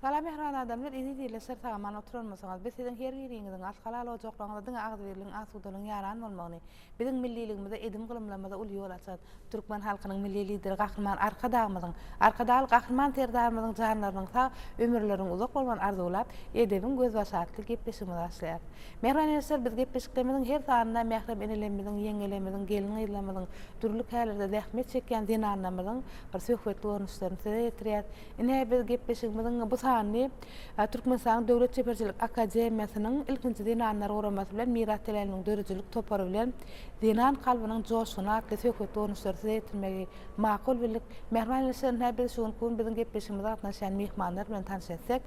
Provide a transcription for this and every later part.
Salam mähriban adamlar eziz ýerler şer sagaman oturanmysyňyz biz siziň her biriňiziň aç halal ojaklaryňyzda diňe agzybirligiň asudalygyň ýaran bolmagyny biziň milliligimize edim gylymlarymyza uly ýol açan türkmen halkynyň milli lideri gahryman arkadagymyzyň arkadagly gahryman serdarymyzyň janlarynyň sag ömürleriniň uzak bolmagyny arzuwlap edebiň gözbaşy atly gepleşigimizi başlaýarys mähriban ýerşler biz gepleşiklerimiziň her sanynda mährem enelerimiziň ýeňňelerimiziň gelin gyzlarymyzyň dürli kärlerde zähmet çekýän zenanlarymyzyň bir söhbetli görnüşlerini size ýetirýäs Ine, biz gepleşigimiziň bu sanyny Türkmenistanyň Döwlet çeperçilik akademiýasynyň Ilkinji zenanlar guramasy bilen Miras teläýiniň döredijilik topary bilen Zenan kalbynyň joşguny atly söhbet dolanyşlary size ýetirmegi makul bildik. Mähriban ilçi, ynha, biz şu günki gün biziň gepleşigimize gatnaşýan myhmanlar bilen tanyş etdik.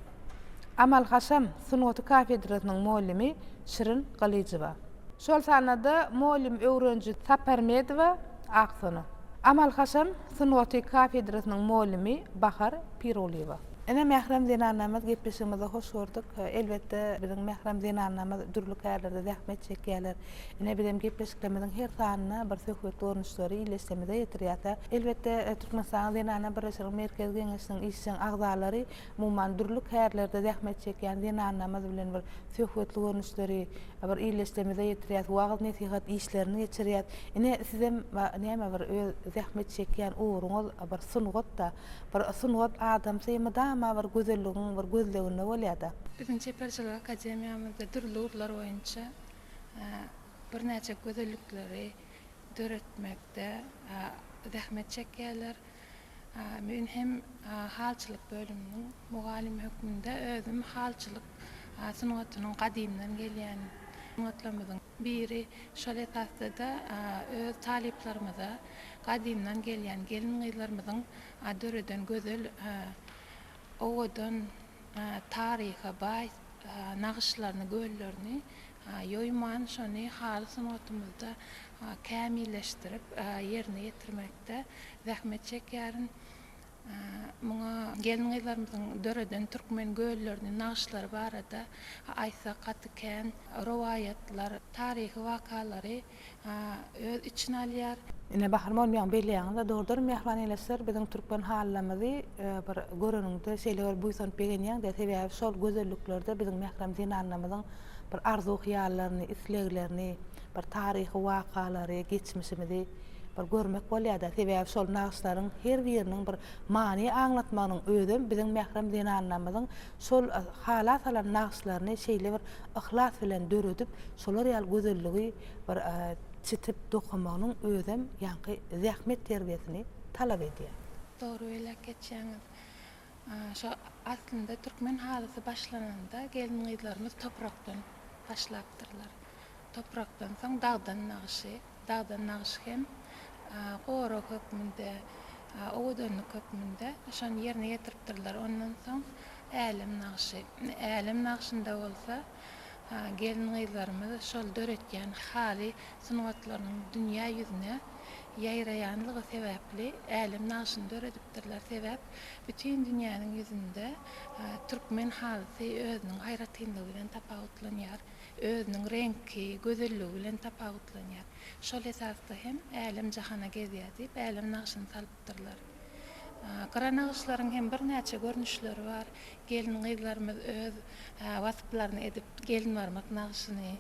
Amal-haşam sungaty kafedrasynyň mugallimi Şirin Gylyjowa. şol sanda-da mugallym öwreniji Saparmedowa Aksona, amal-haşam sungaty kafedrasynyň mugallimi Bahar Pirulyýewa. Ine, mährem zenanlarymyz, gepleşigimizi hoş gördük. Elbetde, biziň mährem zenanlarymyz dürli kärlerde zähmet çekýärler. Ine, bizem gepleşiklerimiziň her sanyna bir söhbet görnüşleri ildeşlerimize ýetirýäs-ä. Elbetde, Türkmenistanyň Zenanlar birleşiginiň Merkezi Geňeşiniň işjeň agzalary Umuman, dürli kärlerde zähmet çekýän zenanlarymyz bilen bir söhbetli görnüşleri, bir illeşdemize ýetirýäs, wagyz-nesihat işlerini geçirýäs. Ine, sizem näme bir öz zähmet çekýän ugruňyz bir sungat-da. Bir sungat adamsy mydama bir gözelligiň bir gözleginde bolýar-da. Biziň Çeperçilik akademiýamyzda dürli ugurlar boýunça birnäçe gözellikleri döretmekde zähmet çekýärler. Men hem halçylyk bölüminiň mugallymy hökmünde özüm halçylyk sungatynyň gadymdan gelýän sungatlarymyzyň biri. Şol esasda-da öz talyplarymyza gadymdan gelýän gelin-gyzlarymyzyň döreden gözel, owadan, taryha baý nagyşlaryny, göllerini Ýoýman şony haly sungatymyzda kämilleşdirip ýerine ýetirmekde zähmet çekýärin. Muňa gelin-gyzlarymyzyň döreden türkmen göllerini, nagyşlary barada aýtsak gaty kän. Rowaýatlar, taryhy wakalary öz içine alýar. Ine bahar bolmaýan belýäňizä dogrudan mähriban eýleşler biziň türkmen halylarymyzy bir göreniňde şeýle bir buýsanyp begenýäňdä sebäbi şol gözelliklerde biziň mährem zenanlarymyzyň bir arzuw hyýallaryny isleglerini bir taryhy wakalary geçmişimizi bir görmek bolýada sebäbi şol nagyşlaryň her biriniň bir many aňlatmagynyň özem biziň mährem zenanlarymyzyň Şol hala salan nagyşlaryny şeýle bir yhlas bilen döredip, şolar ýaly gözelligi bir çitip dokamagynyň özem ýaňky zähmet terbiýesini talap edýär. Dogry belläp geçýäňiz. Şo aslynda türkmen halysy başlananda gelin-gyzlarymyz toprakdan başlapdyrlar. Toprakdan soň dagdan nagyşy. Dagdan nagyş hem gorag hökmünde, owadanlyk hökmünde şony ýerine ýetiripdirler. Ondan soň älem nagşy. Älem nagşynda bolsa gelin-gyzlarymyz şol döretýän haly sungatlarynyň dünýä ýüzüne ýaýraýanlygy sebäpli älem nagşyny döredipdirler. Sebäp bütin dünýäniň ýüzünde türkmen halysy özüniň aýratynlygy bilen tapawutlanýar. özüniň reňki, gözelligi bilen tapawutlanýar. Şol esasda hem Älem-jahana gezýär diýip, älem nagşyny salypdyrlar. Gyra nagyşlaryň hem birnäçe görnüşleri bar. Gelin-gyzlarymyz öz wasplaryny edip, gelinbarmak nagşyny,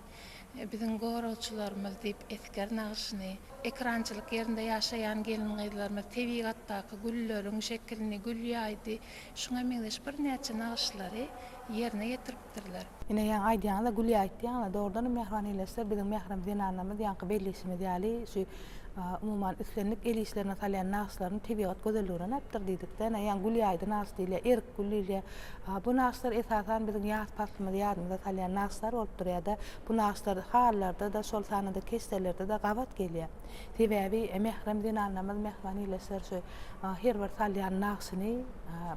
biziň goragçylarymyz diýip, esger nagşyny, ekrançylyk ýerinde ýaşaýan gelin-gyzlarymyz tebigatdaky gülleriň şekilini, gül ýaýdy, şuňa meňzeş birnäçe nagyşlary ýerine ýetiripdirler. ýetişdiripdirler. Ine ýaňy aýdýaňyza Gülýa aýtýaňyza dogrudanam mähriban eýleşse biziň mährem zenanlarymyz ýaňky bellişimiz ýaly şu umuman islendik el işlerine salýan nagyşlaryny tebigat gözelliginden aýypdyr diýdikde ine ýaňy Gülýa aýdy nagyş diýilýär erik gül diýilýär bu nagyşlar esasan biziň ýaz paslymyzy ýadymyza salýan nagyşlar bolup durýarda bu nagyşlar halylarda-da şol sanda-da keşdelerde-de gabat gelýär sebäbi mährem zenanlarymyz mähriban eýleşseler şu Her bir salýan nagşyny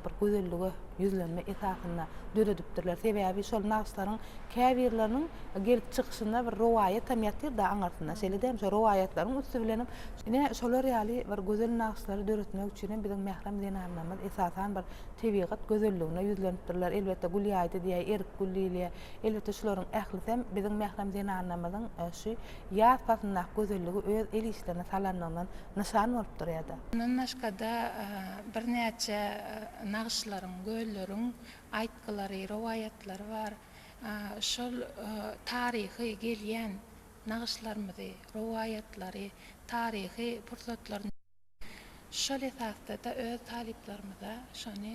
bir gözellige ýüzlenme esasynda döredipdirler. Sebäbi şol nagşlaryň käbirleriniň gelip çykyşynda bir rowaýat hem ýatyr-da aňyrsynda. Şeýle-de hem şol rowaýatlaryň üsti bilen hem ine şolar ýaly bir gözel nagşlary döretmek üçin hem biziň mährem zenanlarymyz esasan bir tebigat gözelligine ýüzlenipdirler. Elbetde gül ýaýdy diýäý, erik gül diýilýär. Elbetde şularyň ählisem biziň mährem zenanlarymyzyň şu ýaz paslyndaky gözelligi öz el işlerine salanlygyndan nyşan bolup durýar-da. Mundan başga-da, birnäçe nagyşlaryň, gölleriň aýtgylary, rowaýatlary bar. Şol taryhy gelýän nagyşlarymyzy, rowaýatlary, taryhy pursatlarymyzy. Şol esasda-da öz talyplarymyza şony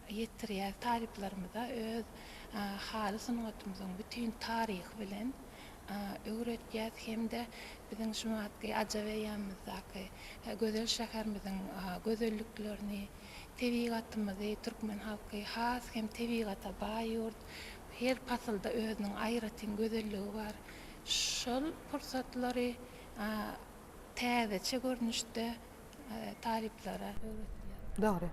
ýetirýäris. Talyplarymyza öz haly sungatymyzyň bütin taryhy bilen öwretýäris hem-de biziň şu wagtky Ajaweýanymyzdaky gözel şäherimiziň gözelliklerini, tebigatymyzy, türkmen halky has hem tebigata baý ýurt, her pasylda özüniň aýratyn gözelligi bar. Şol pursatlary Täzeçe görnüşde talyplara öwredýär. Dogry.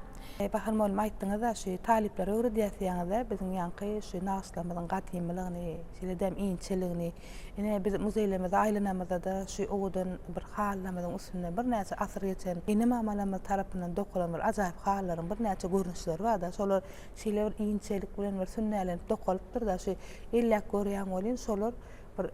Bahar mugallym aýtdyňyz-a şu talyplara öwredýäs diýýäňiz-de biziň ýaňky şu nagyşlarymyzyň gadymylygyny, şeýle-de inçeligini. Ine biz muzeýlerimize aýlanamyzda-da şu owadan bir halylarymyzyň üstünde birnäçe asyr geçen ene-mamalarymyz tarapyndan dokalan bir ajaýyp halylaryň birnäçe görnüşleri bar-da. Şolar şeýle bir inçelik bilen bir sünnälenip dokalypdyr-da şu elläp görýän welin şolar bir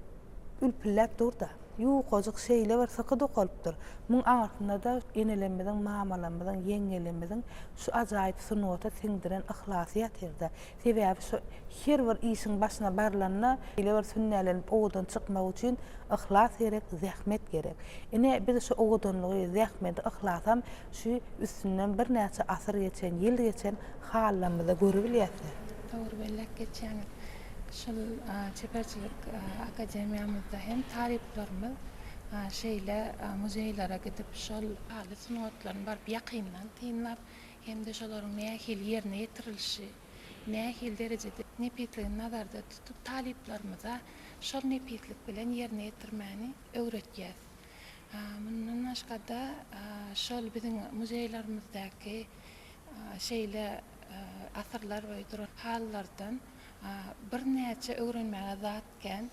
Ülpülläp dur-da. Ýukajyk şeýle bir syky dokalypdyr, muň arasynda-da enelerimiziň, mamalarymyzyň, ýeňňelerimiziň şu ajaýyp sungata siňdiren yhlasy ýatyr-da. Sebäbi şu her bir işiň başyna barylanda, şeýle bir sünnälenip owadan çykmak üçin yhlas gerek, zähmet gerek. Ine, biz şu owadanlygy, zähmeti, yhlasam şu üstünden birnäçe asyr geçen, ýyl geçen halylarymyzda görebilýäs-de. Dogry belläp geçýäňiz. Şol çeperçilik akademiýamyzda hem talyplarymyz şeýle muzeýlere gidip, şol aly sungatlaryny baryp ýakyndan synlap hem-de şolaryň nähili ýerine ýetirilişi, nähili derejede nepisligini nazarda tutup, talyplarymyza şol nepislik bilen ýerine ýetirmäni öwretýäs. Mundan başga-da, şol biziň muzeýlerimizde şeýle Asyrlar boýy duran halylardan birnäçe öwrenmäge zat kän.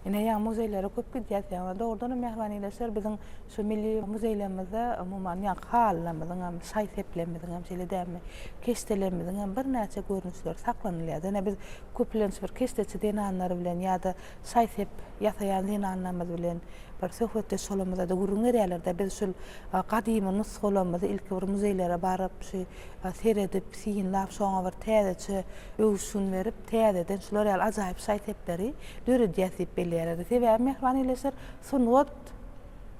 Ine ýa muzeýlere köp gidýäs ýa dogrudan hem mähriban ildeşler biziň şu milli muzeýlerimizde umuman ýa halylarymyzyň hem şaý-seplerimiziň hem şeýle dälmi keşdelerimiziň hem birnäçe görnüşleri saklanylýar. Ýöne biz köplenç bir keşdeçi zenanlar bilen ýa-da şaý-sep ýasaýan zenanlarymyz bilen bir söhbetdeş bolamyzda-da gürrüň berýärler-de biz şul gadymy nusgalarymyzy ilki bir muzeýlere baryp şu seredip, synlap, şoňa bir täzeçe öwüşgin berip, täzeden şular ýaly ajaýyp şaý-sepleri döredýäs diýip belleýärler. Sebäbi mähriban ildeşler, sungat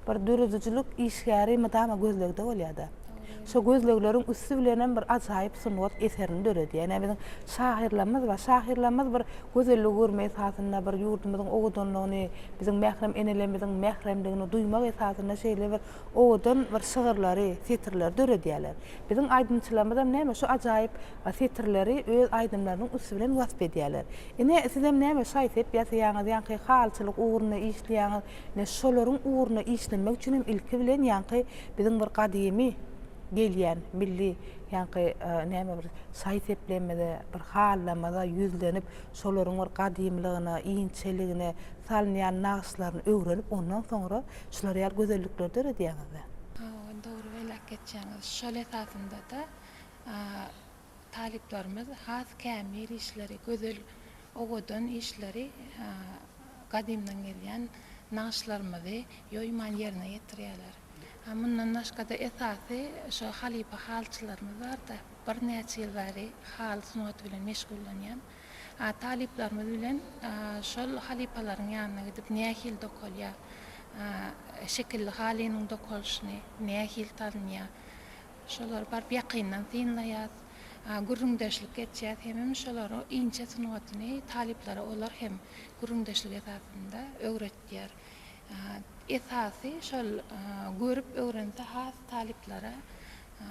bir döredijilik işgäri mydama gözlegde bolýar-da. Şo gözlegleriň üsti bilenem bir ajaýyp sungat eserini döredýär. Ine, biziň şahyrlarymyz bar. Şahyrlarymyz bir gözelligi görmek esasynda, bir ýurdumyzyň owadanlygyny, biziň mährem enelerimiziň mähremligini duýmak esasynda şeýle bir owadan bir şygyrlary, setirleri döredýärler. Biziň aýdymçylarymyzam näme şu ajaýyp setirleri öz aýdymlarynyň üsti bilen wasp edýärler. Ine, sizem näme şaý-sep ýasaýaňyz, ýaňky halyçylyk ugrunda işleýäňiz. Ine, şolaryň ugruna işlenmek üçin hem ilki bilen ýaňky biziň bir gadymy gelýän milli ýaňky näme bir şaý-seplerimize, bir halylarymyza ýüzlenip, şolaryň bir gadymlygyna, inçeligine salynýan nagyşlaryny öwrenip, ondan soňra Şular ýaly gözellikleri döredýäňizmi? Hawa, dogry belläp geçýäňiz. Şol esasynda-da talyplarymyz has kämil işleri, gözel, owadan işleri, gadymdan gelýän nagyşlarymyzy ýoýman ýerine ýetirýärler. Mundan başga-da esasy şo halypa halyçylarymyz bar-da, birnäçe ýyl bäri haly sungaty bilen meşgullanýan. Talyplarymyz bilen şol halypalaryň ýanyna gidip nähili dokalýar, şekilli halynyň dokalyşyny nähili tanýar, şolary baryp ýakyndan synlaýas, gürrüňdeşlik etýäs hemem şolaryň inçe sungatyny talyplara olar hem gürrüňdeşlik esasynda öwretýär. Esasy şol görüp öwrense has talyplara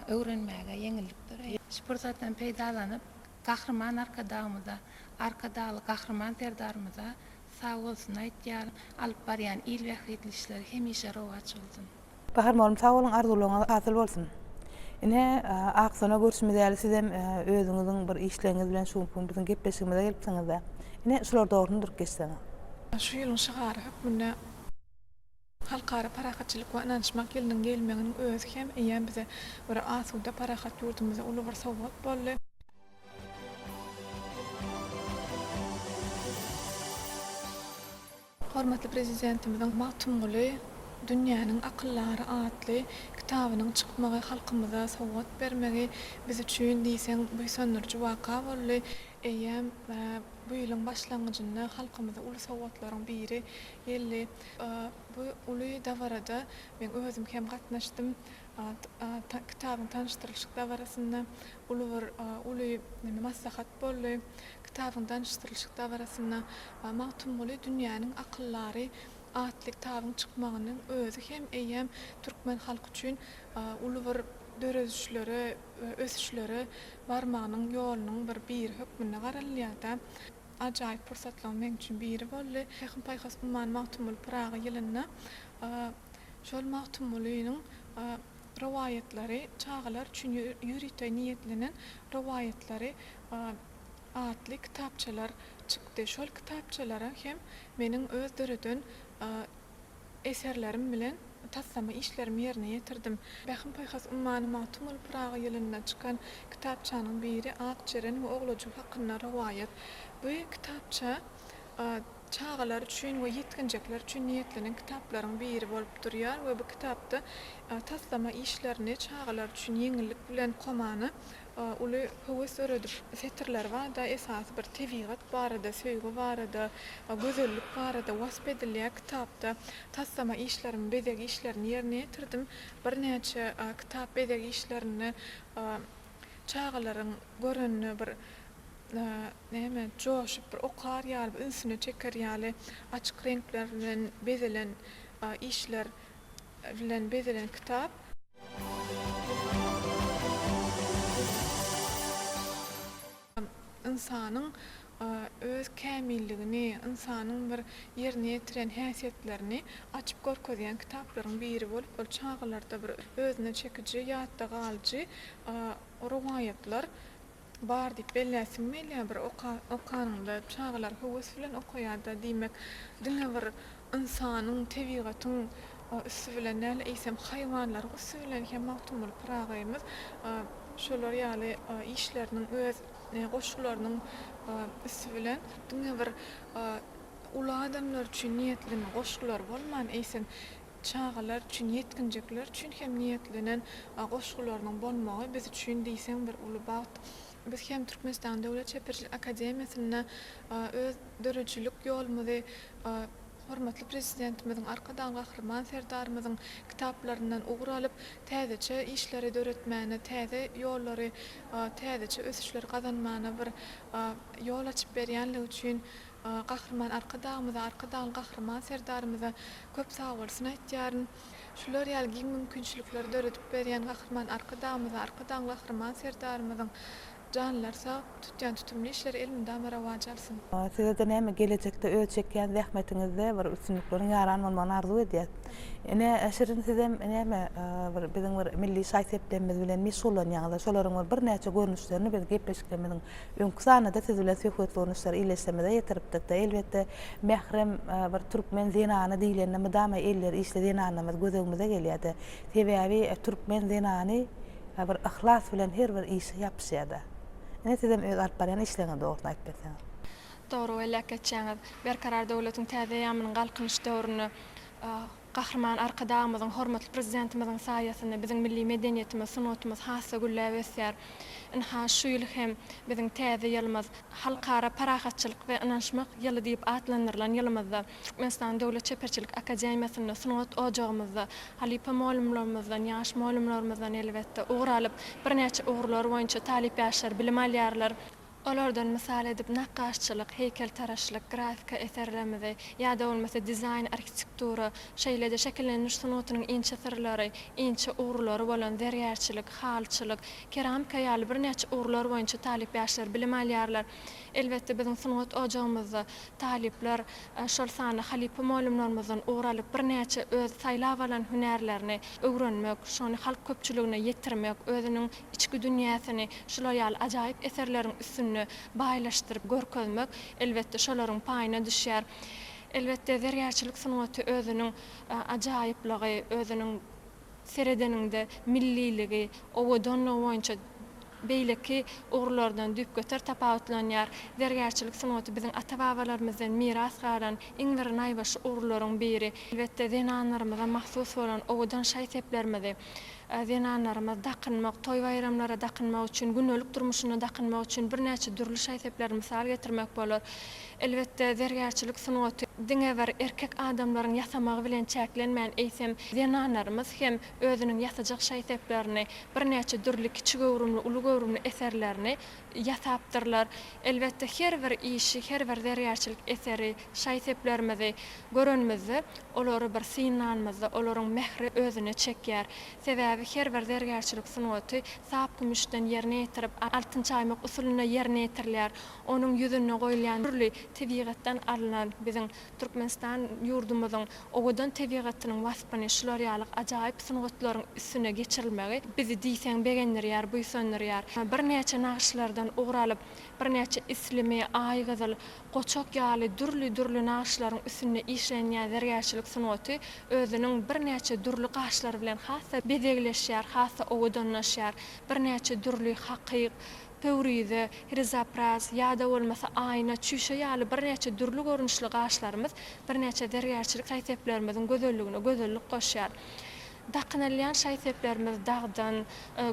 öwrenmäge ýeňillik döreýär. Şu pursatdan peýdalanyp Gahryman Arkadagymyza, Arkadagly Gahryman Serdarymyza sag bolsun aýtýaryn, alyp barýan il bähbitli işleri hemişe rowaç bolsun. Bahar mugallym sag boluň arzuwlaryňyz hasyl bolsun. Ine Aksona görşümiz ýaly sizem özüňiziň bir işleriňiz bilen şu günki biziň gepleşigimize gelipsiňizde. Ine şular dogryny durup geçseňiz. Şu ýylyň şygary hökmünde. Halkara parahatçylyk we ynanyşmak ýylynyň gelmeginiň özi hem eýýäm bize görä asuda, parahat ýurdumyza uly bir sowgat boldy. Hormatly Prezidentimiziň Magtymguly, dünýäniň akyldary atly kitabynyň çykmagy, halkymyza sowgat bermegi biz üçin diýseň buýsandyryjy waka boldy. Eýýäm bu ýylyň başlangyjynda halkymyza uly sowgatlaryň biri geldi. Bu uly dabarada men özüm hem gatnaşdym. Kitabyň tanyşdyrylyşyk dabarasynda uly bir uly maslahat boldy. Kitabyň danyşdyrylyşyk dabarasynda Magtymguly dünýäniň akyldary atly kitabyň çykmagynyň özi hem eýýäm türkmen halky üçin uly bir döredişlere we ösüşlere barmagynyň ýolunyň bir biri hökmünde garalylýar-da. Ajaýyp pursatlaryň meň üçin biri boldy. Pähim-paýhas ummany Magtymguly Pyragy ýylynda şol Magtymgulynyň rowaýatlary, çagalar üçin ýörite niýetlenen rowaýatlary atly kitapçalar çykdy. Şol kitapçalara hem meniň öz döreden Eserlerim bilen taslama işlerimi ýerine ýetirdim. Pähim-paýhas ummany Magtymguly Pyragy ýylynda çykan kitapçanyň biri Ak jeren we oglajyk hakynda rowaýat. Bu kitapça çagalar üçin we ýetginjekler üçin niýetlenen kitaplaryň biri bolup durýar we bu kitapda taslama işlerini çagalar üçin ýeňillik bilen okamana uly höwes döredip setirler barda esasy bir tebigat barada, söýgi barada, gözellik barada wasp edilýär kitapda. Taslama işlerimi, bezeg işlerini ýerine ýetirdim. Birnäçe kitap bezeg işlerinde çagalaryň görende bir näme joşup bir okar ýaly ünsüne çeker ýaly açyk reňkler bilen bezelen işler bilen bezelen kitap. Ynsanyň öz kämilligini, ynsanyň bir ýerine ýetiren häsiýetlerini açyp görkezýän kitaplaryň biri bolup, ol çagalarda bir özüne çekiji, ýatda galyjy rowaýatlar. Bar diýip belläsiň gelýär bir okanyňda çagalar höwes bilen okaýarda diýmek diňe bir ynsanyň tebigatyň üsti bilen däl eýsem haýwanlaryň üsti bilen hem Magtymguly Pyragyýmyz şolar ýaly işleriniň öz goşgularynyň üsti bilen diňe bir uly adamlar üçin niýetleme goşgular bolman eýsem Çagalar üçin, ýetginjekler üçin hem niýetlenen goşgularynyň bolmagy biz üçin diýseň bir uly bagt. Biz hem Türkmenistanyň Döwlet çeperçilik akademiýasynda öz döredijilik ýolumyzy hormatly Prezidentimiziň, Arkadagly Gahryman Serdarymyzyň kitaplaryndan ugur alyp, täzeçe işleri döretmäne, täze ýollary, täzeçe ösüşleri gazanmana bir ýol açyp berýänligi üçin Gahryman Arkadagymyza, Arkadagly Gahryman Serdarymyza köp sagbolsun aýtýaryn. Şular ýaly giň mümkinçilikleri döredip berýän Gahryman Arkadagymyza, Arkadagly Gahryman Serdarymyzyň janlary sag, tutýan tutumly işleri elmydama rowaç alsyn! Size-de näme, gelejekde öz çekýän zähmetiňizde bir üstünlikleriň ýaran bolmagyny arzuw edýäs. Ine, Şirin sizem näme, bir biziň bir milli şaý-seplerimiz bilen meşgullanýaňyz-a, şolaryň bir birnäçe görnüşlerini biz gepleşiklerimiziň Öňki sanada siz bilen söhbet gurluşlary illeşmemize ýetiripdikde, elbetde, mährem bir türkmen zenany diýlende mydama elleri işli zenanlarymyz gözegimize gelýärdi. Sebäbi türkmen zenany bir yhlas bilen her bir işe ýapyşýarda. Ine sizem öz alyp barýan işleriňizi dogrusyny aýyp berseňiz. Dogry belläp geçýäňiz. Berkarar döwletiň täze eýýamynyň Galkynyş döwründe Gahryman Arkadagymyzyň, hormatly Prezidentimiziň saýasynda biziň milli medeniýetimiz, sungatymyz has-da gülläp ösýär. Ynha, şu ýyl hem biziň täze ýylymyz, Halkara parahatçylyk we ynanyşmak ýyly diýip atlandyrylan ýylymyzda Türkmenistan Döwlet çeperçilik akademiýasynda, sungat ojagymyzda, halypa mugallymlarymyzdan, ýaş mugallymlarymyzdan elbetde, ugur alyp, birnäçe ugurlar boýunça talyp ýaşlar bilim alýarlar. Olardan mysal edip nakgaşçylyk, heýkeltaraşlyk, grafika eserlerimizi, ýa-da bolmasa dizaýn, arhitektura, şeýle-de şekillendiriş sungatynyň inçe syrlary, inçe ugrulary bolan zergärçilik, halyçylyk, keramika ýaly birnäçe ugurlar boýunça talyp ýaşlar bilim alýarlar. Elbetde, biziň sungat ojagymyzda talyplar, şol sanda halypa mugallymlarymyzdan ugur alyp, birnäçe öz saýlap alan hünärlerini öwrenmek, şony halk köpçüligine ýetirmek, özüniň Içki dünýäsini şular ýaly ajaýyp eserleriň üstünde baýlaşdyryp görkezmek, elbetde, şolaryň paýyna düşýär. Elbetde, zergärçilik sungaty özüniň ajaýyplygy, özüniň seredeniňde milliligi, owadanlygy boýunça beýleki ugurlardan düýpgöter tapawutlanýar. Zergärçilik sungaty biziň ata-babalarymyzdan miras galan iň bir naýbaşy ugurlaryň biri. Elbetde, zenanlarymyza mahsus bolan owadan şaý-seplerimizi, Zenanlarymyz dakynmak, toý-baýramlara dakynmak üçin, gündelik durmuşynda dakynmak üçin birnäçe dürli şaý-sepleri mysal getirmek bolar. Elbetde, zergärçilik sungaty diňe bir erkek adamlaryň ýasamagy bilen çäklenmän, eýsem, zenanlarymyz hem özüniň ýasajak şaý-seplerini, birnäçe dürli kiçi göwrümli, uly göwrümli eserlerini ýasapdyrlar. Elbetde, her bir işi, her bir zergärçilik eseri, şaý-seplerimizi görenimizde, olary bir synlanymyzda, olaryň mähri özüne çekýär. Sebäbi her bir zergärçilik sungaty sap kümüşden ýerine ýetirip, altyn çaýmak usulynda ýerine ýetirilýär. Onuň ýüzünde goýulýan dürli tebigatdan alnan biziň. Türkmenistan ýurdumyzyň owadan tebigatynyň waspyny şular ýaly ajaýyp sungatlaryň üstüne geçirilmegi bizi diýseň begendirýär, buýsandyrýar. Birnäçe nagyşlardan ugur alyp, birnäçe islimi, aýgyzyl, goçak ýaly dürli-dürli nagyşlaryň üstünde işlenýän zergärçilik sungaty özüniň birnäçe dürli gaşlary bilen has-da bezegleşýär, has-da owadanlaşýar. Birnäçe dürli hakyk, Pöwrize, rizopraz, ýa-da bolmasa aýna, çüýşe ýaly birnäçe dürli görnüşli gaşlarymyz birnäçe zergärçilik şaý-seplerimiziň gözelligine gözellik goşýar. Dakynylýan şaý-seplerimiz dagdan,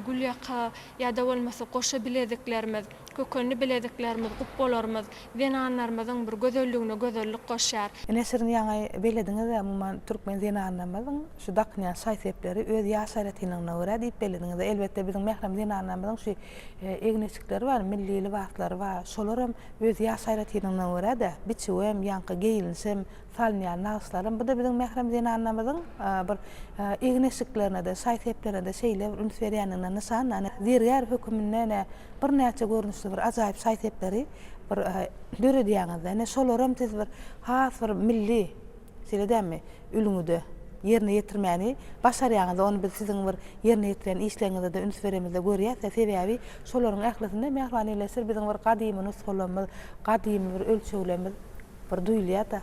gülýaka ýa-da bolmasa goşa bileziklerimiz, kökenli bileziklerimiz, gupbalarymyz, Zenanlarymyzyň bir gözelligine gözellik goşýar. Ine siziň ýaňy belediňizä umuman türkmen zenanlarymyzyň şu dakynýan şaý-sepleri öz ýaş aýratynlygyna görä diýip belediňizä. Elbetde biziň mährem zenanlarymyzyň şu egneçikleri bar, milli lybaslary bar. Şolaram öz ýaş aýratynlygyna görä-de biçüwem, ýaňky geýilişem, Salynýar nagyşlaram. Bu-da biziň mährem zenanlarymyzyň bir egin-eşiklerine-de, şaý-seplerine-de şeýle bir üns berýändigine nyşan. Ýagny zergär höküminde ine birnäçe görnüşli bir ajaýyp şaý-sepleri bir döredýäňiz-de. Ine şolaram siz bir has bir milli, şeýle dälmi, ülňüde ýerine ýetirmäni başarýaňyz-da. Ony biz siziň bir ýerine ýetirýän işleriňize-de üns beremizde görýäs-de. Sebäbi şolaryň ählisinde Mähriban Elleşir biziň bir gadymy nusgalarymyz, gadymy bir ölçeglerimiz. bir duýulýa-da.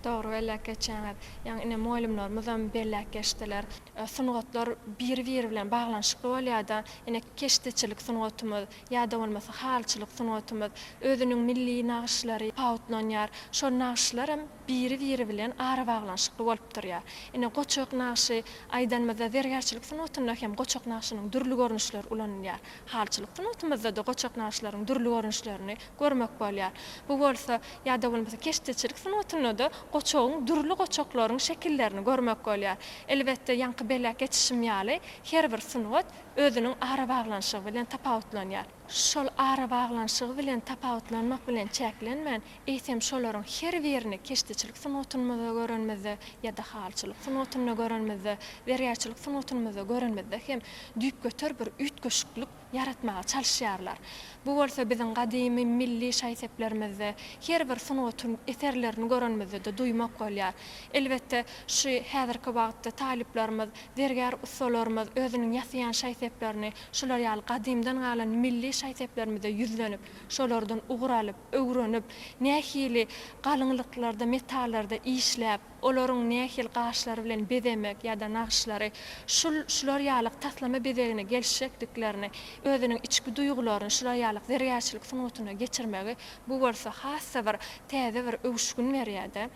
Dogry belläp geçýäňiz. Ýaňy ine mugallymlarymyzam belläp geçdiler. Sungatlar biri-biri bilen baglanyşykly bolýa-da. Ine keşdeçilik sungatymyz, ýa-da bolmasa halyçylyk sungatymyz, özüniň milli nagyşlary pawutlanýar. Şol nagyşlar hem biri-biri bilen arabaglanyşykly bolup durýar. Ine goçak nagşy aýdanymyzda zergärçilik sungatynda hem goçak nagşynyň dürli görnüşleri ulanylýar. Halyçylyk sungatymyzda-da goçak nagyşlaryň dürli görnüşlerini görmek bolýar. Bu bolsa, ýa-da bolmasa keşdeçilik sungatynda-da goçagyň dürli goçaklaryň şekillerini görmek bolýar. Elbetde, ýaňky beläk geçişim ýaly, her bir sungat özüniň arabaglanyşygy bilen tapawutlanýar. Şol arabaglanyşygy bilen tapawutlanmak bilen çäklenmän, eýsem şolaryň her birini keşdeçilik sungatynmyzda görenimizde ýa-da halyçylyk sungatynda görenimizde, zergärçilik sungatynmyzda görenimizde hem düýpgöter bir üýtgeşiklik, ýaratmaga çalyşýarlar. Bu bolsa biziň gadymy milli şaý-seplerimizde, her bir sungatyň eserlerini görenimizde-de duýmak bolýar. Elbetde, şu häzirki wagtda talyplarymyz, zergär ussalarymyz özüniň ýasaýan şaý-seplerini şular ýaly gadymdan galan milli şaý-seplerimize ýüzlenip, şolardan ugur alyp, öwrenip, nähili galyňlyklarda, metallarda işläp, olaryň nähili gaşlary bilen bezemek ýa-da nagyşlary, şul, şular ýalyk taslama bezegine gelişjekdiklerini, özüniň içki duýgularyny şular ýalyk zergärçilik sungatyna geçirmegi, bu bolsa has-da bir täze bir öwüşgin berýär-de.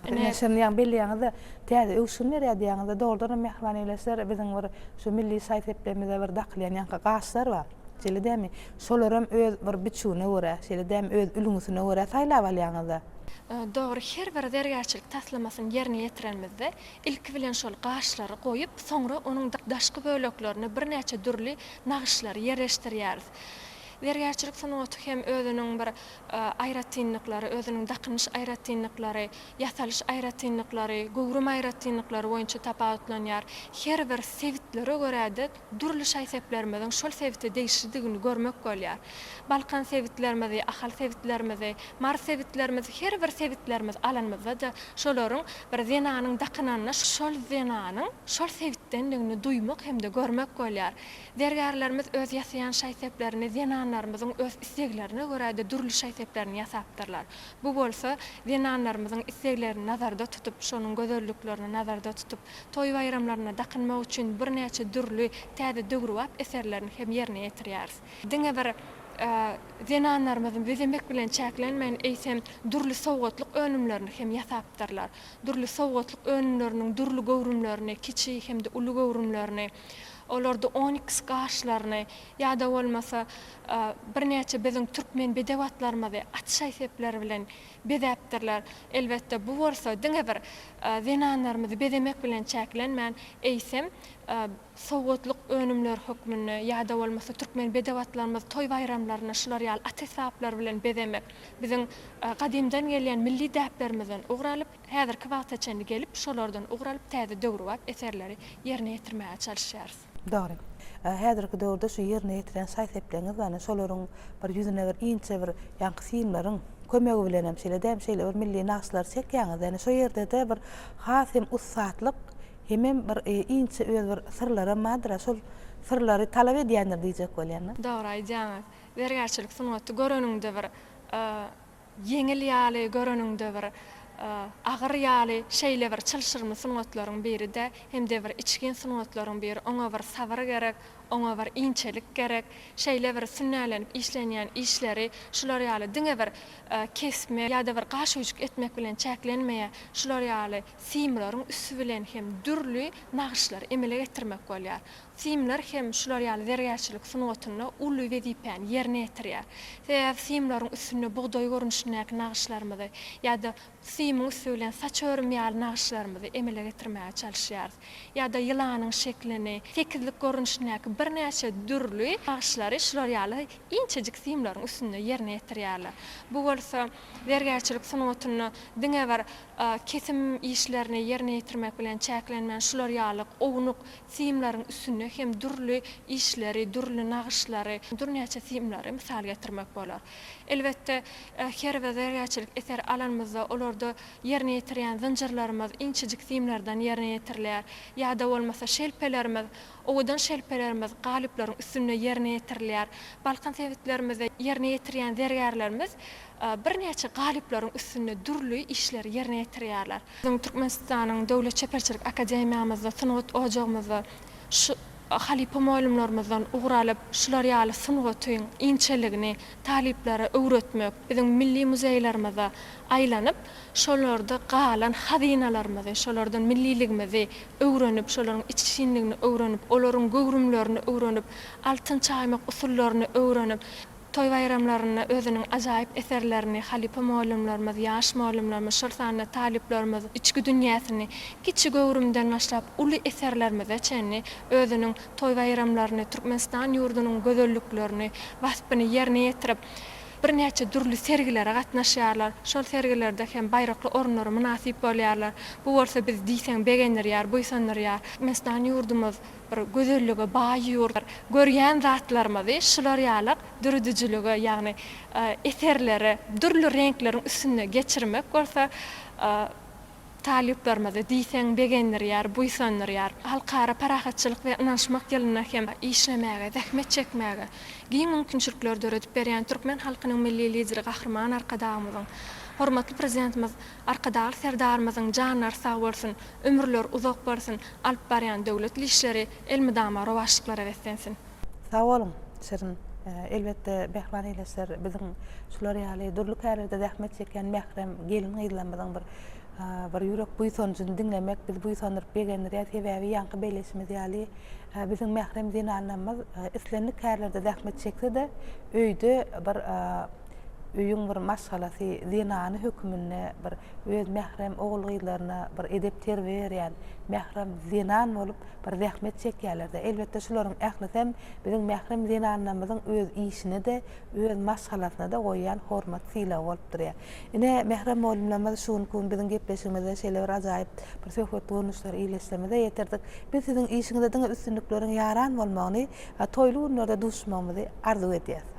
Ine. Ine, şony ýaňy belleýäňiz-de, täze öwüşgin berýär diýýäňiz-de, dogrudanam, mähriban ildeşler, biziň bir şu milli şaý-sepimize bir dakylýan ýaňky gaşlar bar. Şeýle dälmi? Şolaram öz bir biçüwine görä, şeýle dälmi, öz ülňüsine görä saýlap alýaňyz-a. Dogry, her bir zergärçilik taslamasyny ýerine ýetirenimizde, ilki bilen şol gaşlary goýup, soňra onuň daşky böleklerine birnäçe dürli nagyşlary ýerleşdirýäris. Zergärçilik sungaty hem özüniň bir aýratynlyklary, özüniň dakynyş aýratynlyklary, ýasalyş aýratynlyklary, göwrüm aýratynlyklary boýunça tapawutlanýar. Her bir sebitlere görä-de Dürli şaý-seplerimiziň şol sebite degişlidigini görmek bolýar. Balkan sebitlerimizi, Ahal sebitlerimizi, Mary sebitlerimizi, her bir sebitlerimizi alanymyzda-da şolaryň bir zenanyň dakynanyna şol zenanyň şol sebitdendigini duýmak hem-de görmek bolýar. Zergärlerimiz öz ýasaýan şaý-seplerini zenanlarymyzyň öz isleglerine görä-de dürli şaý-seplerini ýasapdyrlar. Bu bolsa zenanlarymyzyň isleglerini nazarda tutup, şonuň gözelliklerini nazarda tutup, Toý-baýramlarynda dakynmak üçin birnäçe dürli täze döwrebap eserlerini hem ýerine ýetirýäris. Diňe bir zenanlarymyz bezemek bilen çäklenmän, eýsem, dürli sowgatlyk önümlerini hem ýasapdyrlar. Dürli sowgatlyk önümleriniň dürli göwrümlerini, kiçi hem-de uly göwrümlerini, olarda oniks gaşlaryny ýa-da bolmasa birnäçe biziň türkmen bedew atlarymyzy at şaý-sepleri bilen bezäpdirler. Elbetde, bu bolsa diňe bir zenanlarymyzy bezemek bilen çäklenmän, eýsem, sowgatlyk önümler hökmünde ýa-da bolmasa türkmen bedew-atlarymyzy toý-baýramlaryny şular ýaly at esbaplary bilen bezemek biziň gadymdan gelýän milli däplerimizden ugur alyp, häzirki wagta çenli gelip, şolardan ugur alyp, täze döwrebap eserleri ýerine ýetirmäge çalyşýarys. Dogry. Häzirki döwürde şu ýerine ýetiren şaý-sepleňiz ýany şolaryň bir ýüzüne bir inçe bir ýaňky simleriň kömegi bilenem şeýle dämi şeýle bir milli nagyşlary çekýäňiz. Ýani şo ýerde-de bir has hem ussatlyk hemem bir inçe öz bir syrlaram bardyr-a şol syrlary talap edýändir diýjek bolýan-da. Dogry aýdýaňyz. Zergärçilik sungaty göreniňde bir Ýeňil ýaly göreniňde bir agyr ýaly şeýle bir çylşyrymly sungatlaryň biride hemde bir içgin sungatlaryň biri oňa bir sabyr gerek oňa bir inçelik gerek şeýle bir sünnälenip işlenýän işleri şular ýaly diňe bir kesme ýada bir gaş öýjük etmek bilen çäklenmeýä şular ýaly simlaryň üsti bilen hem dürli nagyşlary emele getirmek bolýar Simler hem şular ýaly zergärçilik sungatynda uly wezipäni ýerine ýetirýär. Sebäbi simleriň üstünde bugdaý görnüşindäki nagyşlarymyzy ýa-da simiň üsti bilen saç örüm ýaly nagyşlarymyzy emele getirmäge çalyşýarys. Ýa-da ýylanyň şeklini, tekizlik görnüşindäki birnäçe dürli nagyşlary şular ýaly inçejik simleriň üstünde ýerine ýetirýärler. Bu bolsa zergärçilik sungatynda diňe bir kesim işlerini ýerine ýetirmek bilen çäklenmän, şular ýaly ownuk simleriň üstünde hem dürli işleri, dürli nagyşlary, dürnäçe simleri mysal getirmek bolar. Elbetde, her bir zergärçilik eseri alanymyzda, olarda ýerine ýetirýän zynjyrlarymyz inçejik simlerden ýerine ýetirilýär. Ýa-da bolmasa şelpelerimiz, owadan şelpelerimiz galyplaryň üstünde ýerine ýetirilýär. Balkan sebitlerimizde ýerine ýetirýän zergärlerimiz birnäçe galyplaryň üstünde dürli işleri ýerine ýetirýärler. Biziň Türkmenistanyň Döwlet çeperçilik akademiýamyzda, sungat ojagymyzda şu halypa mugallymlarymyzdan ugur alyp, şular ýaly sungatyň inçeligini talyplara öwretmek, biziň milli muzeýlerimize aýlanyp, şolarda galan hazynalarymyzy, şolardan milliligimizi öwrenip, şolaryň içginligini öwrenip, olaryň göwrümlerini öwrenip, altyn çaýmak usullaryny öwrenip, Toý-baýramlarynda özüniň ajaýyp eserlerini halypa mugallymlarymyz, ýaş mugallymlarymyz, şol sanda talyplarymyz içki dünýäsini kiçi göwrümden başlap uly eserlerimize çenli özüniň toý-baýramlaryny, Türkmenistan ýurdunyň gözelliklerini, waspyny ýerine ýetirip, birnäçe dürli sergilere gatnaşýarlar. Şol sergilerde hem baýrakly orunlara mynasyp bolýarlar. Bu bolsa bizi diýseň begendirýär, buýsandyrýar. Türkmenistan ýurdumyz bir gözellige baý ýurtlar. Görýän zatlarymyzy şular ýaly düredijilige, ýagny eserlere dürli reňkleriň üstünde geçirmek bolsa talyplarymyzy diýseň begendirýär, buýsandyrýar. Halkara parahatçylyk we ynanyşmak ýylynda hem işlemäge, zähmet çekmäge giň mümkinçilikleri döredip berýän türkmen halkynyň Milli Lideri Gahryman Arkadagymyzyň, hormatly Prezidentimiz Arkadag Serdarymyzyň janlary sag bolsun, ömürleri uzak bolsun, alyp barýan döwletli işleri elmydama rowaçlyklara beslensin. Sag boluň, şirin. Elbetde Behlan Eýleşer biziň şular ýaly dürli kärlerde zähmet çekýän mährem gelin-gyzlarymyzyň bir bir ýürek buýsanjyny diňlemek bizi buýsandyryp begendirýär. Sebäbi ýaňky belleşimiz ýaly, biziň mährem zenanlarymyz islendik kärlerde zähmet çekse-de, öýde bir öýüň bir maşgalasy, zenany höküminde bir öz mährem ogul-gyzlaryna bir edep-terbiýe berýän mährem zenan bolup bir zähmet çekýärler-de. Elbetde, şularyň ählisem biziň mährem zenanlarymyzyň öz işine-de, öz maşgalasyna-da goýýan hormat-sylagy bolup durýar. Ine, mährem mugallymlarymyz, şu günki gün biziň gepleşigimize şeýle bir ajaýyp bir söhbet görnüşleri ile semize ýetirdik. Biz siziň işiňizde diňe üstünlikleriň ýaran bolmagyny, toýly günlerde duşuşmagymyzy arzuw edýäris.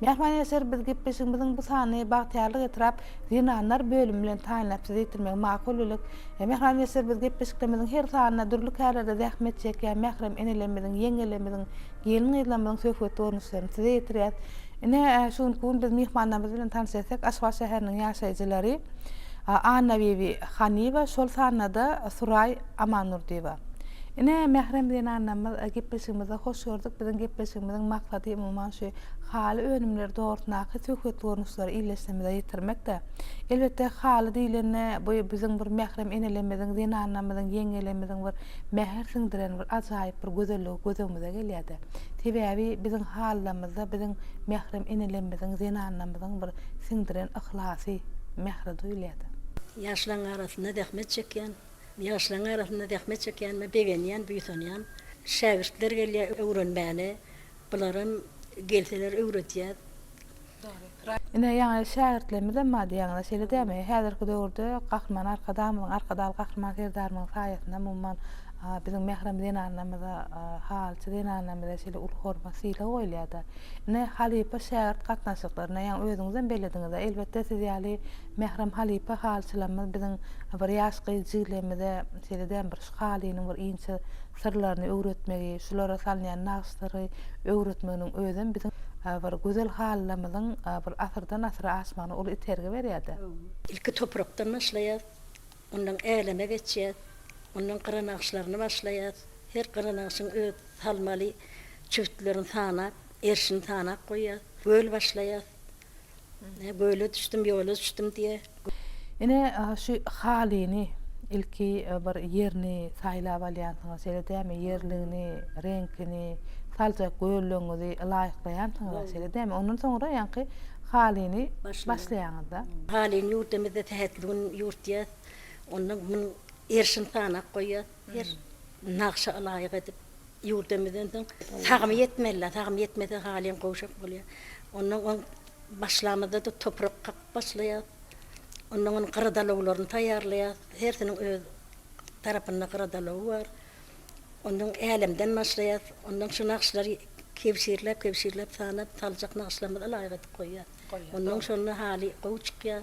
Mähriban ýaşlar biz gepleşigimiziň bu sanyny Bagtyýarlyk etrap zenanlar bölümi bilen taýynlap size ýetirmegi makul bildik. Mähriban ýaşlar biz gepleşiklerimiziň her sanynda dürli kärlerde zähmet çekýän mährem enelerimiziň, ýeňňelerimiziň, gelin-gyzlarymyzyň söhbetli görnüşlerini size ýetirýäs. Ine, şu günki gün biz myhmanlarymyz bilen tanyş etdik, Aşgabat şäheriniň ýaşaýjylary Annabibi Hanyýewa, şol sanda-da Suraý. Aman Nurdyýewa. Ine, mährem zenanlarymyz, gepleşigimizde hoş gördük. Biziň gepleşigimiziň maksady, umuman, şu haly önümleri dogrusyndaky söhbetli görnüşleri ildeşlerimize ýetirmekdi. Elbetde, haly diýlende, bu biziň bir mährem enelerimiziň, zenanlarymyzyň, ýeňňelerimiziň bir mähir siňdiren bir ajaýyp bir gözelligi göz öňümize gelýärdi. Sebäbi biziň halylarymyzda biziň mährem enelerimiziň, zenanlarymyzyň bir siňdiren yhlasy, mähri duýulýardy. Ýaşlaryň arasynda zähmet çekýän Ýaşlaryň arasynda zähmet çekýänime begenýän, buýsanýan. Şägirtler gelýär öwrenmäne. Bularam gelseler öwredýäs. Ine ýaňy şägirtlerimizem bar diýýäňiz-ä, şeýle dälmi? Häzirki döwürde Gahryman Arkadagymyzyň, Arkadagly Gahryman Serdarymyzyň saýasynda umuman biziň mährem zenanlarymyza, halçy zenanlarymyza şeýle uly hormat, sylag goýulýar-da. Ine halypa-şägirt gatnaşyklaryna ýaňy özüňizem bellediňiz-ä, elbetde siz ýaly Mährem halypa halyçylarymyz biziň bir ýaş gyz jiglerimize size däm bir şu halynyň bir inçe syrlaryny öwretmegi, şulara salynýan nagyşlary öwretmeginiň özem biziň bir gözel halylarymyzyň bir asyrdan asyra aşmagyna uly itergi berýärdi. Ilki toprakdan başlaýas, ondan äleme geçýäs, ondan gyra nagyşlaryny başlaýas, her gyra nagyşyň öz salmaly çüwtlerini sanap, erşini sanap goýýas, göl başlaýas, Göle düşdüm, ýola düşdüm diýýär. Ine, şu halyny ilki bir ýerini saýlap alýansyňyz, şeýle dälmi? Ýerligini, reňkini, saljak göllegiňizi laýyklaýansyňyz-a, şeýle dälmi? Ondan soňra ýaňky halyny başlaýaňyz-da. Halyny ýurdumyzda tähedli gün ýurtýas. Onda munuň erşini sanap goýýas. Her nagşa laýyk edip, Ýurdumyzdan soň sagymy ýetmeli-le, sagymy ýetmese halyň gowşak bolýar. Ondan oň başlamyzda-da toprak kakyp başlaýar. Ondan oň gyradalawlaryny taýýarlaýar. Hersiniň öz tarapynda gyradalawy bar. Ondan älemden başlaýar. Ondan şu nagyşlary kebşirläp-kebşirläp sanap saljak nagyşlarymyza laýyk edip goýýar. Ondan şonda haly gowy çykýar.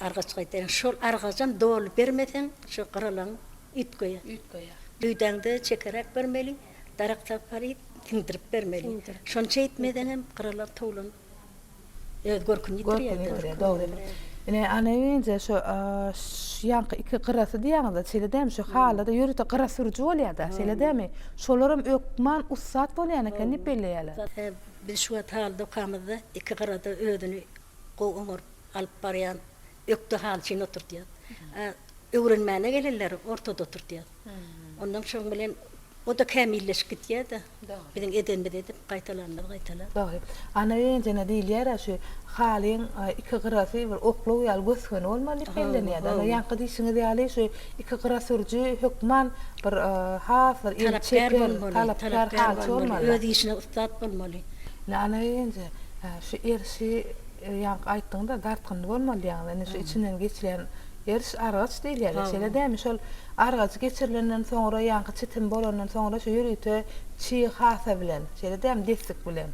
Argaç gaýtaýan şol argajam doly bermeseň şu gyralan üýt goýar. Üýt goýar. Düýdäňde çekeräk bermeli, darak tapgaryp siňdirip bermeli. Şonça etmeseňem gyralan towlan öz görküni ýitirýär. Görküni ýitirýär, dogry. Ine ana ýeňije şu ýaňky iki gyrasy diýýäňiz-ä şeýle dämi şu halyda ýörite gyra sürüji bolýar-da şeýle dämi? Şolaram ökman ussat bolýan eken diýip belleýärler. Biz şu wagt haly dokamyzda iki gyrada özüni Gowy oňaryp alyp barýan. Ökde haly üçin oturdýar. Öwrenmäne gelenleri ortada oturdýar. Ondan şoň bilen o-da kämilleşip gidýär-de. Biziň edenimiz edip, gaýtalanymyz gaýtalan. Dogry. Ana enjene diýilýär-ä şu halyň iki gyrasy bir oklaw ýaly gös-göni bolmaly diýip bellenýär-de. Ana ýaňky diýşiňiz ýaly şu iki gyra sürüji hökman bir has bir el çeken, talapkär halyçy bolmaly. Öz işine ussat bolmaly. Lala ýeňje, şu erşi ýaňky aýtdyňda dartgynly bolmaly diýýäňiz. Indi şu içinden geçilýän eriş argaç diýilýär-le, şeýle dämi? Şol argajy geçirilenden soňra, ýaňky çitim bolandan soňra şu ýörite çig hasa bilen, şeýle dämi, destik bilen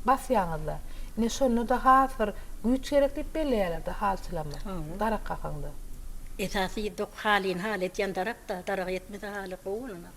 basýaňyz-da. Ine, şonda-da has bir güýç gerek diýip belleýärler-de halçylama, darak kakanda. Esasy dok halini haly edýän darak-da, daragy etmese haly gowy bolanok.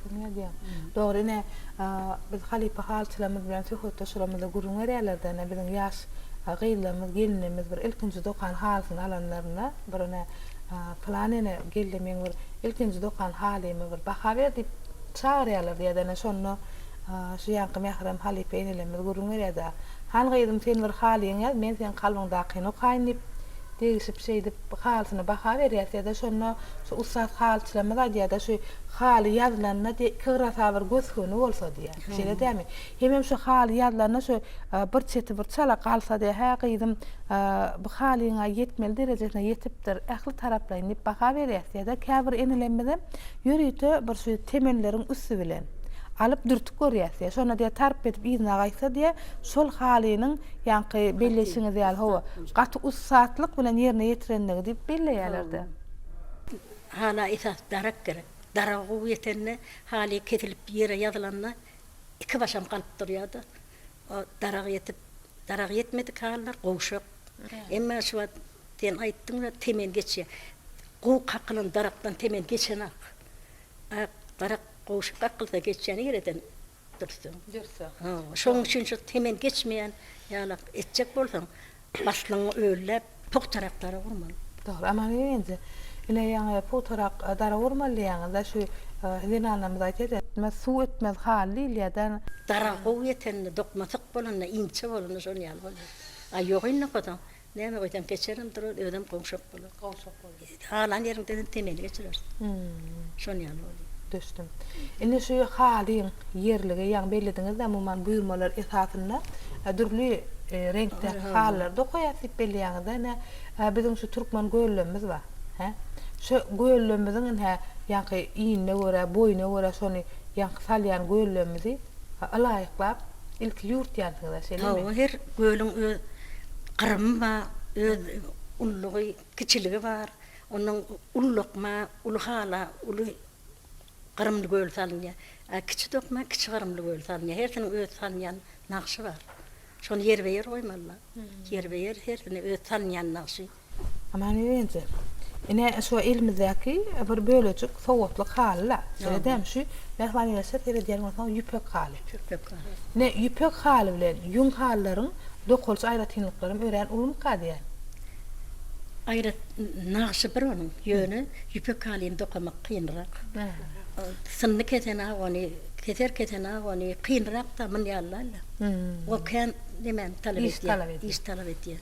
Dogryny aýdýaň. Dogry ine, biz halypa halyçylarymyz bilen söhbetdeşligimizde gürrüň berýärlerdi-ine, biziň ýaş gyzlarymyz, gelinlerimiz bir ilkinji dokan halysyny alanlarynda, bir ine, Pylan ene geldi, meň bir ilkinji dokan halymy bir baha ber diýip çagyrýarlardy ýa-da ine şonda şu ýaňky mährem halypa enelerimiz gürrüň berýärdi-ä, Hany gyzym, sen bir halyňy ýaz, men seň kalbyňdakyny okaýyn diýip, degişip şeýdip halysyna baha berýärdi ýa-da şonda şu ussat halyçylarymyz aýdýardy-ä, şu Haly ýazylanda diýýär, iki gyrasa bir gös-göni bolsa diýýär. Şeýle dälmi? Hemem şu haly ýazylanda şu bir çeti bir çala galsa diýýär, hä gyzym, bu halyň-a ýetmeli derejesine ýetipdir, ähli taraplaýyn diýip baha berýäs diýýär-de, käbir enelerimizem ýörite bir şu temelleriň üsti bilen alyp dürtüp görýäs diýýär. Şonda diýýär, tarp edip yzyna gaýtsa diýýär, şol halynyň ýaňky belleýşiňiz ýaly, hawa, gaty ussatlyk bilen ýerine ýetirenligi diýip belleýärler-de. Hala esas darak gerek. Daragy gowy ýetende, haly kesilip ýere ýazylanda iki başam galyp durýar-da. O darak ýetip, darak ýetmedik halylar gowşak. Emma şu wagt sen aýtdyň we temen geçýär. Gowy kakylan darakdan temen geçenak. Ak darak gowşak kakylsa geçýän ýereden Dürseň. Dürseň. Hawa, şonuň üçin şu temen geçmeýän ýala etjek bolsaň, baslyňy ölläp, pugtarak dara gurmaly. Dogry. Aman bibi-nji, ine, ýaňy pugtarak dara gurmaly diýýäňiz-dä, şu zenanlarymyz aýdýa-da, etmez suw etmez hal diýilýä-dä. Dara gowy ýetende, dokma syk bolanda, inçe bolanda şonuň ýaly bolýar. A ýok indi hozaň, Näme goýsaň keçerem durar, özem gowşak bolar. Gowşak bolar. Halan ýeriňde hem temeli geçireris. Şon ýaly bolýar. Düşdüm. Indi şu halyň ýerligi, ýagny bellediňiz-dä, umuman buýurmalar esasynda dürli reňkde halylar dokaýas diýip belleýäňiz-dä. Ine, biziň şu türkmen göwlemimiz bar. Hä? Şu göwlemimiziň ine, ýaňky iýnine görä, boýuna görä şony ýaňky salýan göwlemimizi ylaýyklap, Ilki ýurt diýýänsiňiz-ä, şeýlemi? Hawa, her gölüň öz gyrymy bar, öz ululygy, kiçiligi bar. Ondan uly dokma, uly hala, uly gyrymly göl salynýar. A kiçi dokma, kiçi gyrymly göl salynýar. Hersiniň öz salynýan nagşy bar. Şony ýerbe-ýer goýmalylar. Ýerbe-ýer hersiniň öz salynýan nagşy. Aman eje, ine şu elimizdäki bir bölejik sowgatlyk haly-la. Şeýle dämi şu, Mähriban ene, şa seredýän bolsaň, ýüpek haly. Ýüpek haly. Ine, ýüpek haly bilen ýüň halylaryň dokalyş aýratynlyklaram örän ulumyka diýýän. Aýrat nagşy bir onuň, ýöne ýüpek halyny dokamak kynrak. Synly kesen-a ony, keser kesen-a ony kynrak-da, munýanlaýla. Ol kän nemäni talap edýär, iş talap edýär.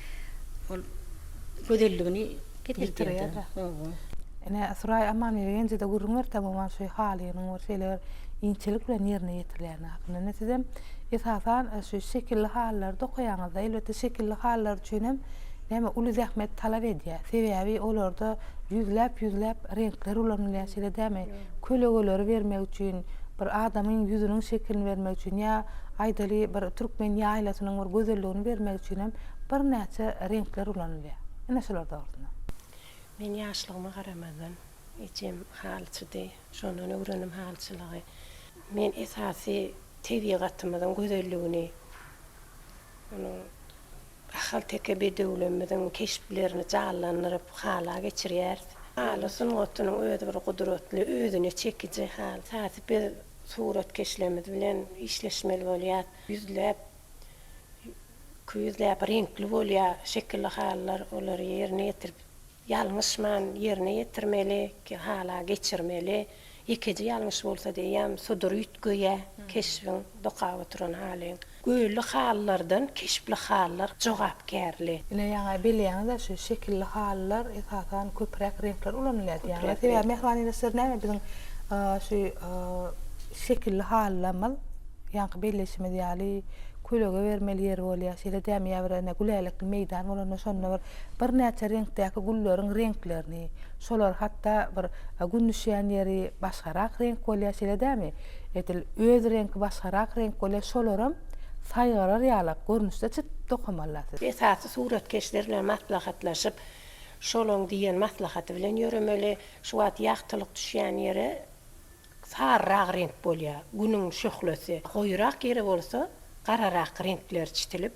Ol gözelligini ýitirýär. Ine, Suraý Amanmergenjede gürrüň berdi umuman şu halynyň bir şeýle bir inçelik bilen ýerine ýetirilýäni hakynda. Ine, sizem esasan şu şekilli halylary dokaýaňyzda, elbetde şekilli halylar üçin hem näme uly zähmet talap edýär. Sebäbi olarda ýüzläp-ýüzläp reňkler ulanylýar, şeýle dämi? kölegeleri bermek üçin, bir adamyň ýüzüniň şekilini bermek üçin ýa aýdaly bir türkmen ýaýlasynyň bir gözelligini bermek üçin hem birnäçe reňkler ulanylýar. Ine şular dogrusynda. Men ýaşlygyma garamazdan, ejem halyçydy. Şondan öwrendim halyçylygy. Men esasy tebigatymyzyň gözelligini, onuň Ahalteke bedewlerimiziň keşplerini janlandyryp, hala geçirýäris. Haly sungatynyň özi bir gudratly, özüne çekiji hal. Esasy biz suratkeşlerimiz bilen işleşmeli bolýar. Ýüzläp, iki ýüzläp reňkli bolýar şekilli halylar. Olary ýerine ýetirip, Ýalňyşman ýerine ýetirmeli, ki hala geçirmeli. Ýekeje ýalňyş bolsa diýýäm, sudur üýtgeýä keşbiň dokap oturan halyň. Gölli halylardan keşpli halylar jogapkärli. Ine ýaňy belleýäňizä şu şekilli halylar esasan köpräk reňkler ulanylýar diýýäňiz. Sebäbi mähriban ildeşler näme biziň şu şekilli halylarymyz ýaňky belleýşimiz ýaly kölege bermeli ýeri bolýar. Şeýle dämi ýa bir ene gülälekli meýdan bolanda şonda bir Birnäçe reňkdäki gülleriň reňklerini, şolar hatda bir Gün düşýän ýeri başgarak reňk bolýar şeýle dämi, edil öz reňki başgarak reňk bolýar şolaram saýgarar ýalak görnüşde çyt dokamalla siz. Esasy suratkeşler bilen maslahatlaşyp şolaň diýen maslahaty bilen ýöremeli, şu wagt ýagtylyk düşýän ýere saryrak reňk bolýar, Günüň şöhlesi, goýurak ýere bolsa gararak reňkler çitilip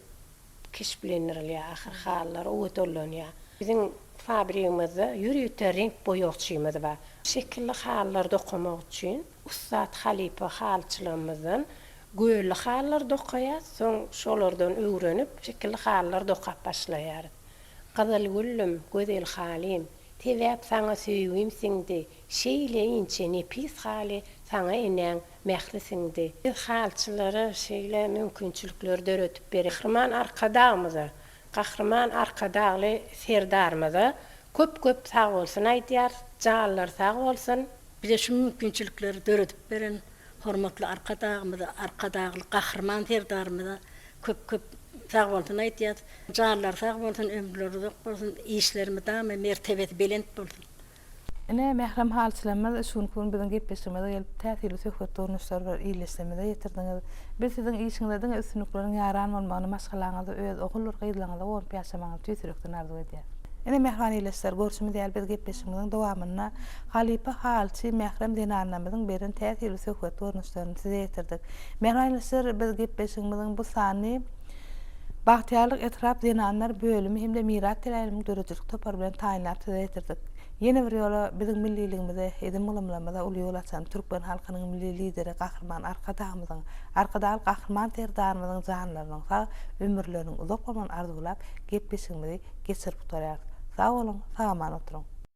keşplendirilýär, ahyr halylar owadanlanýar. Biziň fabrigimizde ýörite reňk boýagçymyz bar. Şekilli halylar dokamak üçin ussat halypa halyçylarymyzdan gölli halylar dokaýarys, soň şolardan öwrenip, şekilli halylar dokap başlaýarys. Gyzyl güllüm, gözel halym, Sebäp saňa söýgim siňdi, Şeýle inçe nepis haly saňa enäň Mähri siňdi. Biz halyçylara şeýle mümkinçilikleri döredip bereýik. Gahryman Arkadagymyza, Gahryman Arkadagly Serdarymyza köp köp sagbolsun aýdýarys. Janlary sag bolsun. Bize şu mümkinçilikleri döredip beren hormatly Arkadagymyza, Arkadagly Gahryman Serdarymyza köp köp sagbolsun aýdýarys. Janlary sag bolsun, ömürleri uzak bolsun, işleri mydama mertebesi belent bolsun. Ine, mährem halyçlamyz, şu günki gün biziň gepleşigimize gelip, täsirli söhbet durmuşlary bilen ildeşligimize ýetirdiňiz. Biz siziň işiňizde diňe üstünlikleriň ýaran bolmagyny, maşgalaňyzda öz oguldyr gyzlaňyza gowunyp ýaşamagyňyzy tüýs ýürekden arzuw edýäris. Ine, mähriban ildeşler, görşümiz ýaly, biz gepleşigimiziň dowamynda halypa halyçy, mährem zenanlarymyzyň beren täsirli söhbet görnüşlerini size ýetirdik. Mähriban ildeşler, biz gepleşigimiziň bu sanyny. Bagtyýarlyk etrap zenanlar bölümi hem-de Myrat Teläýewiň döredijilik topary bilen taýynlap size ýetirdik. Ýene bir ýola biziň milliligimize, edim-gylymlarymyza uly ýol açan türkmen halkynyň Milli Lideri Gahryman Arkadagymyzyň, Arkadagly Gahryman Serdarymyzyň janlarynyň sag, ömürleriniň uzak bolmagyny arzuwlap, gepleşigimizi geçirip gutarýarys. Sag boluň, sag-aman oturyň!